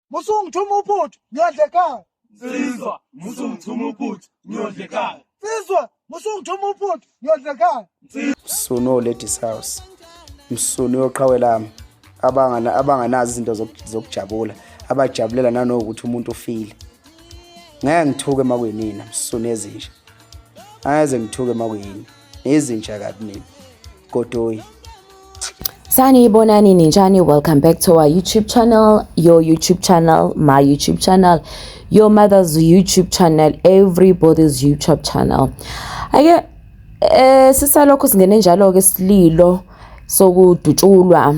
musungithuma uphuthu ngiyodla ekhaya nsizwa musungithuma uphuthu ngiyodla ekhaya nsizwa musungithuma uphuthu ngiyodla ekhaya msunu oladies house msunu yoqhawe lami abangana abanganazi izinto zokujabula abajabulela nanokuthi umuntu ufile ngeke ngithuke makuyinina msunu ezinje angeze ngithuke makuyini nezinja kabi mina godoyi saniyibonani ninjani welcome back to our youtube channel your youtube channel my youtube channel your mother's youtube channel everybody's youtube channel ake eh sisalokho singene njalo ke sililo sokudutshulwa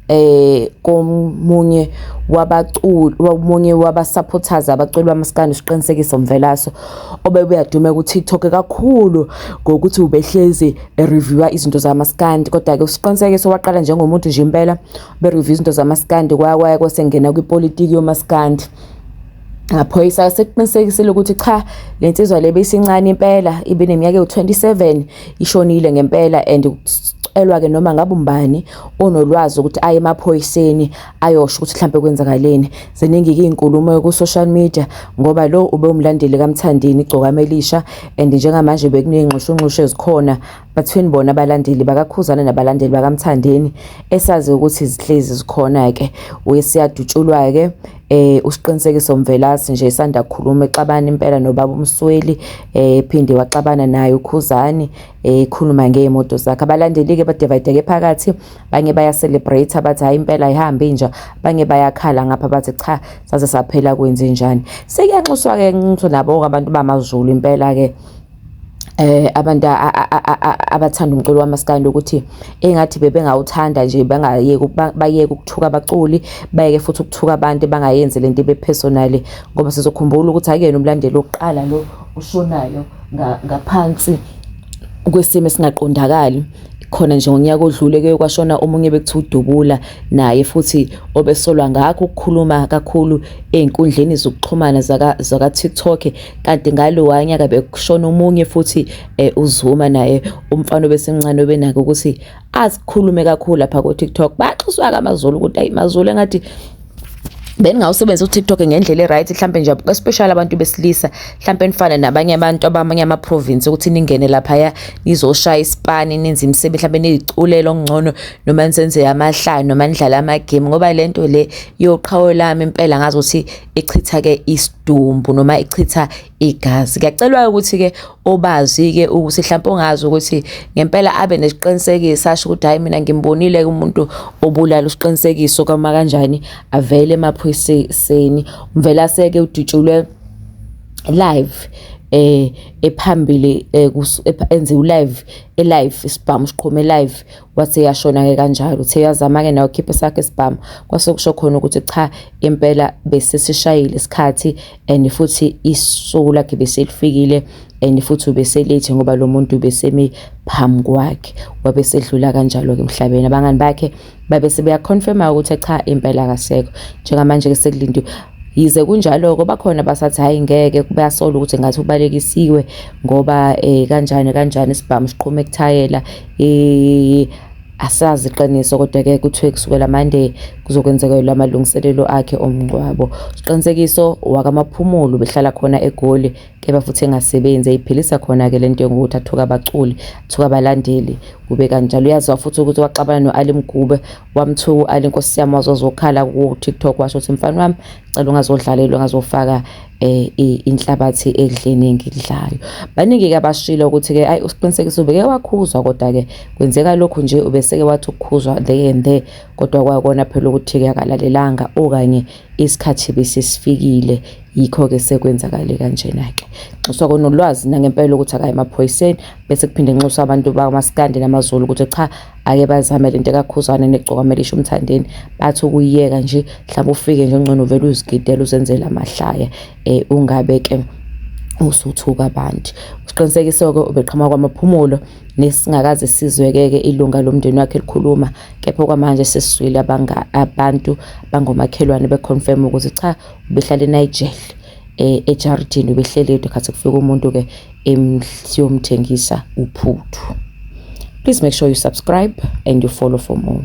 eh komunye wabaculi omunye wabasupporters abaculi bamaskandi uSiqinisekiso Mvelaso obebuya dume ku TikTok kakhulu ngokuthi ubehlezi ereviewa izinto zamaskandi kodwa ke uSiqinisekiso waqala njengomuntu nje impela be review izinto zamaskandi kwaya kwaya kwasengena kwipolitiki yomaskandi ngaphoyisa sekuqinisekisile ukuthi cha le nsizwa le beyisincane impela ibe neminyaka ewu-27 ishonile ngempela and kucelwa-ke noma ngabe umbani onolwazi ukuthi aye emaphoyiseni ayosho ukuthi mhlambe kwenzakaleni ziningi izinkulumo ku social media ngoba lo ube umlandeli kaMthandeni igcokama elisha and njengamanje bekunengxushu ngxushu ezikhona between bona abalandeli bakakhuzana nabalandeli bakaMthandeni esazi ukuthi izihlezi zikhona ke uyesiyadutshulwa ke eh usiqinisekiso mvelasi nje isanda kukhuluma exabana impela nobaba umsweli eh phinde waxabana naye ukhuzani ekhuluma ngey'moto zakhe abalandeli-ke badivayideke phakathi banye bayacelebrate abathi hhayi impela ayihambi inja banye bayakhala ngapha bathi cha saze saphela kwenze njani sekuyanxuswa-ke nxuso nabo-ke abantu bamazulu impela-ke eh abantu abathanda umculo wamaskandi ukuthi engathi bebengawuthanda nje bangayeki bayeke ukuthuka abaculi bayeke futhi ukuthuka abantu bangayenzi lento ibe personal ngoba sizokhumbula ukuthi akuyena umlandeli oqala lo ushonayo ngaphansi kwesimo esingaqondakali khona nje ngonyaka odlule kuye kwashona omunye bekuthiwa udubula naye futhi obesolwa ngakho ukukhuluma kakhulu ey'nkundleni zokuxhumana zaka-tiktok kanti ngalowa nyaka bekushona omunye futhi um uzuma naye umfana obesemncane obenake ukuthi azikhulume kakhulu lapha ku TikTok baxuswa ka maZulu ukuthi ayi maZulu engathi beningawusebenzisa uTikTok ngendlela eright mhlambe nje especially abantu besilisa mhlambe nifane nabanye abantu abamanye ama province ukuthi ningene lapha ya nizoshaya isipani ninzi imsebenzi mhlambe niziculele okungcono noma nisenze amahlaya noma nidlala ama game ngoba lento le yoqhawe lami impela ngazi ukuthi ichitha ke isidumbu noma ichitha igazi kuyacelwa ukuthi ke obazi ke ukuthi mhlawumbe ongazi ukuthi ngempela abe nesiqinisekiso asho ukuthi hayi mina ngimbonile ke umuntu obulala usiqinisekiso kama kanjani avele emaphoyiseni umvele aseke udutshulwe live eh ephambili eh, enze ulive elive isibhamu siqhome live wathi yashona-ke kanjalo uthe yazama-ke nawo khiphe sakhe isibhamu kwase kusho khona ukuthi cha impela besesishayile isikhathi and futhi isuku lakhe beselifikile and futhi ubeselethi ngoba lo muntu ubesemi phambi kwakhe wabe sedlula kanjalo-ke emhlabeni abangani bakhe babe sebeyaconfirma ukuthi cha impela akasekho njengamanje-ke sekulindiwe yize kunjalo-ke bakhona basathi hhayi ngeke bayasola ukuthi ngathi ubalekisiwe ngoba um kanjani kanjani isibhamu siqhume kuthayela asazi iqiniso kodwa-ke kuthiwe kusukela mande kuzokwenzekelwa amalungiselelo akhe omngcwabo siqinisekiso wakamaphumulo behlala khona egoli kepha futhi engasebenzi eyiphilisa khona-ke le nto yokuthi athuka abaculi athuka abalandeli kube kanjalo uyaziwa futhi ukuthi waxabana no-ali mgube wamthuka u-ali nkosi yami wazozokhala ku-tiktok washo ukuthi mfana wami cela ungazodlalelwa ngazofaka eh inhlabathi edlini engidlayo baningi ke abashilo ukuthi ke ayi usiqinisekise ubeke wakhuzwa kodwa ke kwenzeka lokhu nje ubeseke wathi ukukhuzwa there and there kodwa kwakona phela ukuthi ke akalalelanga okanye isikhathi besisifikile yikho ke sekwenzakale kanjena ke nxuswa konolwazi nangempela ukuthi akayi emaphoyiseni bese kuphinde nxuswa abantu bamaskandi namazulu ukuthi cha ake bazame lento kakhuzane negcokamela isho umthandeni bathi ukuyiyeka nje mhlawumbe ufike nje ngcono vele uzigidela uzenzele amahlaya um ungabe ke usuthuka abantu siqinisekise-ke ubeqhamuka kwamaphumulo nesingakaze sizwekeke ilunga lomndeni wakhe likhuluma kepha okwamanje sesizwile abantu bangomakhelwane beconfirm ukuthi cha ubehlala enigel eh, ejaridini ubehleli yedwa khathi kufika umuntu ke emhliyomthengisa uphuthu please make sure you subscribe and you follow for more